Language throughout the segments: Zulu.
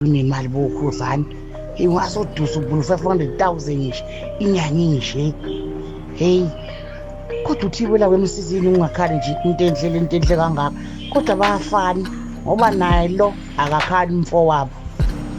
unemali bokhuzani ingasodusa ubulu 500,000 nje inyanga inje hey kodwa uthibela kwemsizini ungakhali nje into enhle lento enhle kangaka kodwa bayafana ngoba naye lo akakhali umfowabo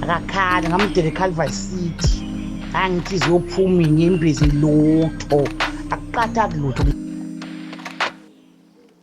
akakhali ngamdela eCalvary City angithi ziyophuma inyembezi lutho akuqatha kulutho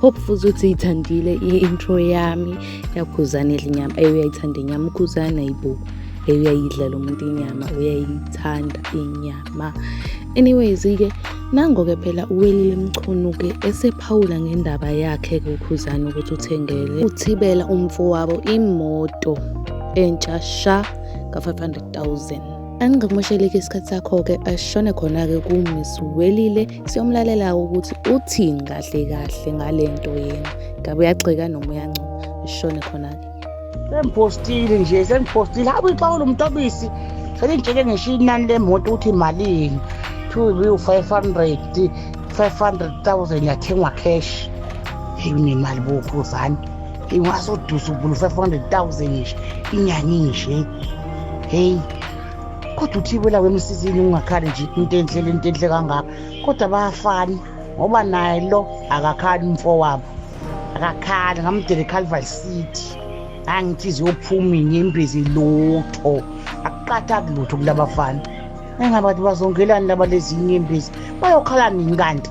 hope futhi ukuthi yithandile i-intro yami yakhuzana edla inyama eyi uyayithanda inyama ukhuzana yibo eyi uyayidla lo muntu inyama uyayithanda inyama anyways-ke nango-ke phela uwelile mchunu-ke esephawula ngendaba yakhe-ke ukhuzana ukuthi uthengele uthibela umfowabo imoto entsha sha ka-500 000 angingakumosheleki isikhathi sakho-ke ashone khona-ke kumiss welile Siyomlalela ukuthi uthini kahle kahle ngale nto yena. Ngabe uyagxeka noma uyancuma. Ishone khona-ke. Sengiphostile nje sengiphostile. Hawu ixawula umtobisi. Selingitshele ngisho inani lemoto ukuthi malini. Two bill five hundred. Five hundred thousand yathengwa cash. Hey unemali bo Khuzani. Ingasodusa ubulu five hundred thousand nje. Inyanga inje. Hey. kodwa uthi wela wemsizini ungakhali nje into enhle le nto enhle kangaka kodwa bayafani ngoba naye lo akakhali umfo wabo akakhali ngamdele calvary city angithi ziyophuma inyembezi lutho akuqatha kulutho kulabafana engabathi bazongelani laba lezi inyembezi bayokhala nini kanti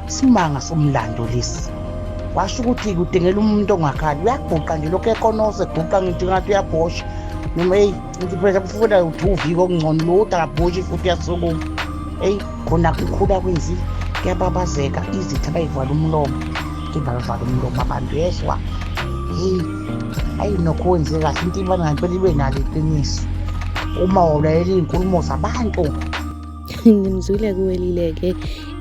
Isimanga somlando lesi. Washo ukuthi kudingela umuntu ongakhali uyabhuqa nje lokhu ekonose ebhuqa ngithi ngathi uyabhosha noma eyi ngithi phela kufuna uthi uvike okungcono lodwa akabhoshi futhi uyasukuma eyi khona kukhula kwenzile kuyababazeka izitha bayivala umlomo ngibavala umlomo abantu yezwa heyi ayi nokho wenze kahle into ibana ngempela ibe nalo iqiniso uma wawulaleli iy'nkulumo zabantu ngimzwile kuwelile-ke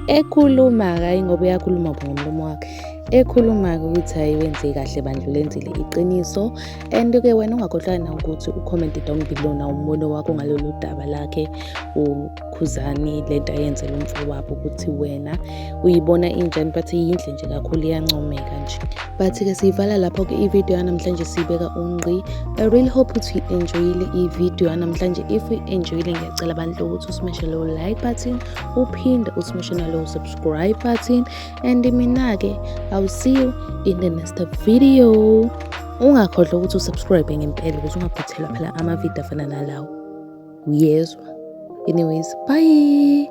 ekhuluma-ke hhayi ngoba uyakhuluma ngomlomo wakhe ekhuluma-ke ukuthi hhayi wenze kahle bandla ulenzile iqiniso and-ke wena ungakhohlwa na ukuthi ucommente down below na umbono wakho ngalolu daba lakhe ukhuzani le nto ayenzela umfowabo ukuthi wena uyibona injani but yinhle nje kakhulu iyancomeka nje but-ke siyivala lapho-ke ividiyo yanamhlanje siyibeka ungqi i really hope ukuthi uyi-enjoyile ividiyo yanamhlanje if uyi-enjoyile ngiyacela abantu ukuthi usimeshe lowo like button uphinde usimeshe nalowo subscribe button and mina-ke i will see you in the next video ungakhohlwa ukuthi usubscribe ngempela ukuthi ungaphuthelwa phela amavidiyo afana nalawo uyezwa anyways bye